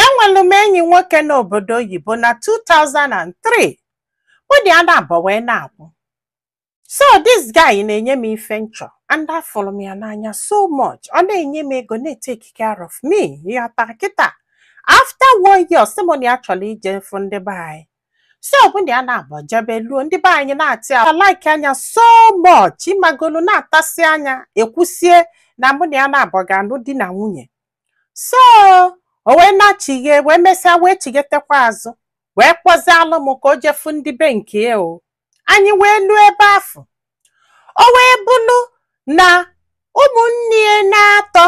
enwelu m enyi nwoke n'obodo oyibo na 2003 mụ na ya naabọ wee na-akwụ so this guy na-enye m ife m chọ and afụrụ m ya n'anya so much ọ na-enye m ego na-etake care of me ịghọta kịta after one year sị m na ya chọrọ ije fụ ndị be anyị so mụ na ya naabọ jebe luo ndị be anyị nata ya likea nya so much ịmagolu natasịa nya ekwusie na mụ na ya naabọ ga-anụ di na nwunye so o wee nachighe wee mesịa wee chighetekwa azụ wee kpọzialụ m ka o je fụ ndị be nke ya o anyị wee luo ebe afụ o wee bụrụ na ụmụnne ya na-atọ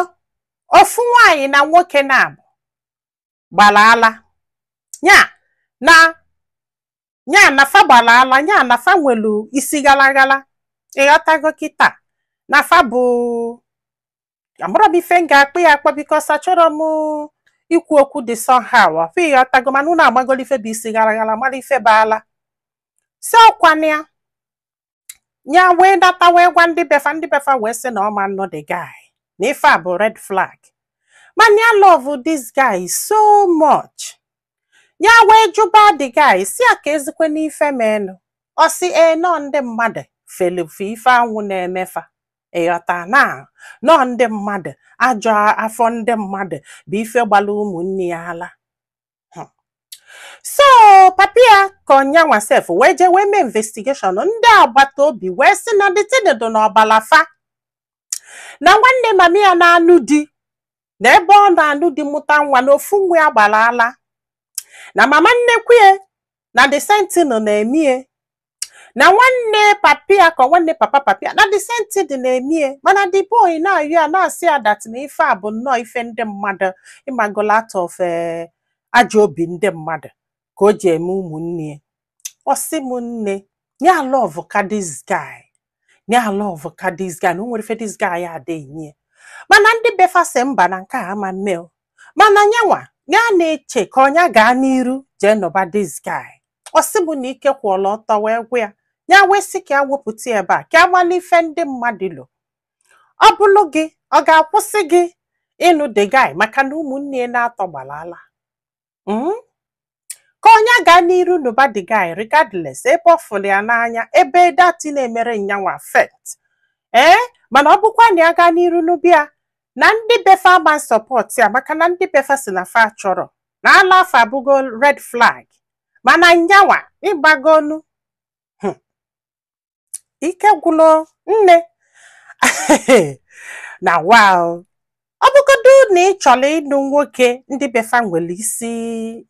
ofu nwaanyị na nwoke naabọ gbara ala ya na ya na fa gbara ala ya na fa nwelu isi ghalaghala ịghọtago kịta na fa bụ amarọ m ife m ga-akpọ ya akpọ because achọrọ m ikwu okwu dị somehow ọfụ ịghọtago mana unu amagolo ife bụ isi gara gara mara ife bụ ala so ọkwa na ya ya wee nata wee gwa ndị befa ndị befa wee sị na ọ ma-anụ the guy na ife a bụ red flag mana ya love this guy so much ya wee jụba the guy si ya kezikwanụ ife menụ ọ sị ee na ọ ndị mmadụ felụ fa ife anwa na-eme fa ịghọta na ọ ndị mmadụ ajọ afọ ndị mmadụ bụ ife gbara ụmụnne ya ala Hmm. so papa ya ka ọ nyanwa sef wee jee wee mee investigation ndị agbata obi wee sị na the thing dụ n'ọbala fa na nwanne mami ya na-anụ di na ebe ọ na-anụ di mụta nwa na ofu nwa ya gbara ala na mama nnekwu ya na the same thing na-eme ya na nwanne papa ya ka nwanne papa papa ya na the same thing na-eme ya mana the boy na-ayọ ya na-asị ya that na ife a bụ nnọọ ife ndị mmadụ ịmagola out of eh, ajọ obi ndị mmadụ ka o ji eme ụmụnne ya ọ sị m nne nya aloveka this guy nya aloveka this guy na o nwere ife this guy a adịghị enye ya. mana ndị befa sị mba na nke a ama mme o mana nyanwa ya na-eche ka ọ nya gaa n'iru jee nụba this guy ọ sị m na ike kwụọla ọtọ wee gwụ ya ya wee sị ka ya wepụta ya ebe a ka a mala ife ndị mmadụ lo ọ bụlụ gị ọ ga-akwụsị gị ịnụ the guy maka na ụmụnne ya na-atọ gbara ala Mm? ka ọ nya gaa n'iru nụba the guy regardless ebe ọ fụrụ ya n'anya ebe that thing na-emerọ nyanwa affect ee mana ọ bụkwa na ya gaa n'iru nụba ya na ndị befa ama support ya maka na ndị befa sị na fa achọrọ na ala afụ abụgo red flag mana nyanwa ịgbago ọnụ Hmm. ike gwụlụ nne na wa o. ọ bụgodu na ị chọrọ ịnụ nwoke ndị be fa nwere isi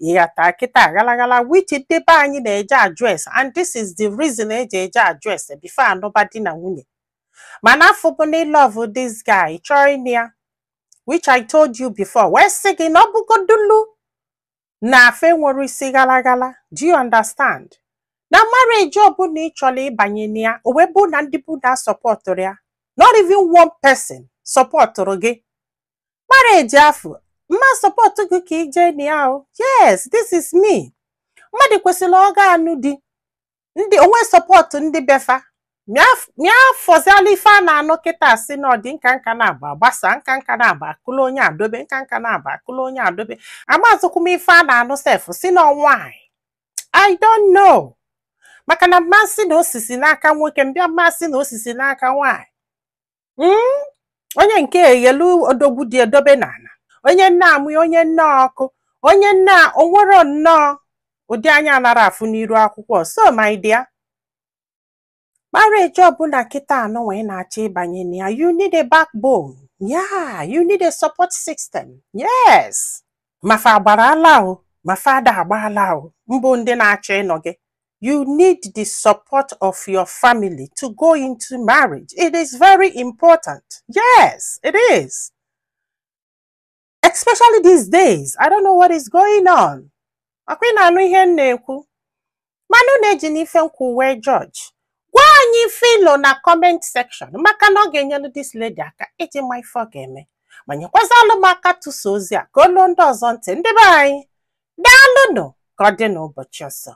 ị ghọta kịta ghalaghala which ndị be anyị na-eje address and this is the reason eji eje address before anụba di na nwunye mana afụ bụ na ị love this guy chọọ ịnụ ya which I told you before wee sị gị na ọ bụgodulu na fa enwere isi ghalaghala do you understand na marriage ọbụla ị chọrọ ịbanye na ya o wee bụ na ndị be unu asọpọtụrọ ya not even one person sọpọtụrụ gị marriage afụ m ma sọpọtụ gị ka i je na ya o yes this is me mmadụ kwesịrị ọ ga-anụ di o nwee sọpọtụ ndị be fa ma ya fọziala ife a na-anụ kịta sị na ọ di nka nka na-agba agbasa nka nka na-agba akwụla onye adobe nka nka na-agba akwụla onye adobe amazịkwa m ife a na-anụ sef sị na ọ nwanyị i don't know maka na m ma sị na o sisi n'aka nwoke bịa m ma sị na o sisi n'aka nwanyị Mm, onye nke eghelu odogwu dị edobe n'ala onye nne amụ, onye nne ọkụ onye nne a- o nwerọ nnọọ ụdị anya anarọ afụ n'iru akwụkwọ so my dear marriage ọbụla kịtaa nụnwa ị na-achọ ịbanye na ya you need a backbone yeah you need a support system yes ma fa gbara ala o ma fa ada agba ala o mbụ ndị na-achọ ịnụ gị you need the support of your family to go into marriage. It is very important. Yes, it is. Especially these days. I don't know what is going on. Ọkwa ị na-anụ ihe m na-ekwu. Mana unu ejina ife m kwu wee judge. Gwa anyị ife i lo na comment section maka na ọ ga-enyelu this lady aka iji ma ife ọ ga-eme. Ma nyekwazialụ m aka tụsa ozi a ka o lu ndị ọzọ ntị ndị be anyị. Daalụnụ ka ọ dị n'ụbọchị ọzọ.